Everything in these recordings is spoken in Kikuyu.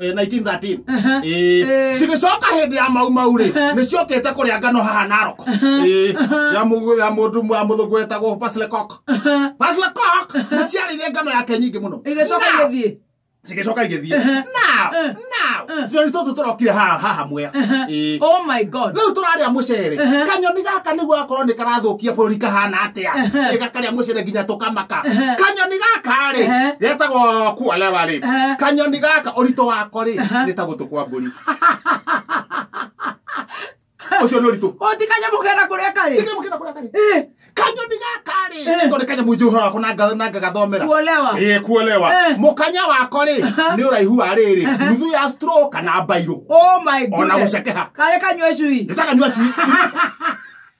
eh, 1913 Aha. Eh, Eh. cigĩcoka hĩndĩ ya maumau rĩ Aha. nĩ ciokĩte kũrĩa ngano haha narok Eh, ya mũgũ- ya mũndũ ya mũthũngũ wetagwo paslecok Aha. paslecok nĩ ciarĩire ngano yake nyingĩ mũno Igĩcoka Now, igĩthiĩ. cigĩcoka igĩthiĩ Aha. Now, Eh. now, Eh. tũrĩ tũtũ tũrokire haha haha mwea Aha. Eh, Oh my God. rĩu tũrarĩa mũcere Aha. kanyoni gaka nĩguo akorwo nĩ karathũkia bũrũri kahana atĩa? atia Ehe. gakaria mucere nginya tukamaka Ehe. kanyoni gaka ri Ehe. getagwo kualewa ri Ehe. kanyoni gaka urito wako ri Ehe. ni ta gutu kwa mburi ucio ni uritu Oti kanyamũ kera kũrĩa karĩ. Tige mukira kuria kari Eh, kanyoni gaka ri Ehe. ni tori kanyamu njuhura wako na nga- na ngagathomera Kuolewa. ä kuolewa Eh. må kanya wako rä nä å raihu wa rä rä nuthu ya stro kana mbairå Oh my Ona goodness. gũcekeha. Karĩ kanyue cui. nä takanyua cui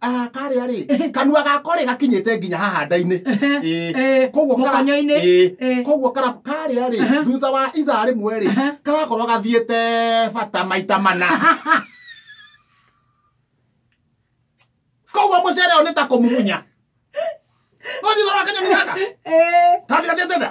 Ah, karĩa rĩ kanua gako rĩ gakinyĩte nginya haha nda-inĩ Ĩĩ. Ĩĩ, Koguo kara- mũkonyo-inĩ. Ĩĩ. Ĩĩ. koguo kara- karĩa rĩ Aha. thutha wa ithaa rĩmwe rĩ Aha. karakorwo gathiĩte bata maita mana koguo mũcere ũyũ nĩ ta kũmumunya ũthithora kanyoni gaka Ĩĩ. kathi gathiĩte tha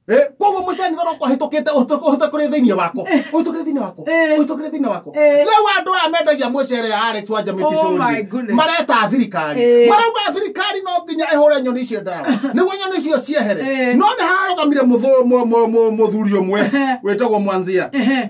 Eh, koguo mucani thoro kwahĩtũkĩte ũhĩtũkĩte kũrĩ thĩinĩ wako ũhĩtũkĩte thĩinĩ wako Eh. ũhĩtũkĩte thĩinĩ wako Eh. rĩu andũ aya mendagia mũcere ya Alex wanja Oh my mĩbicũri goodness. mareta thirikari Eh. marauga thirikari no nginya ĩhũre nyoni icio ndawa nĩguo nyoni icio ciehere Eh. no nĩ hararũgamire mũthũ- mũ- mũ- mũ- mũthuri ũmwe wĩtagwo mwanzia Ehe.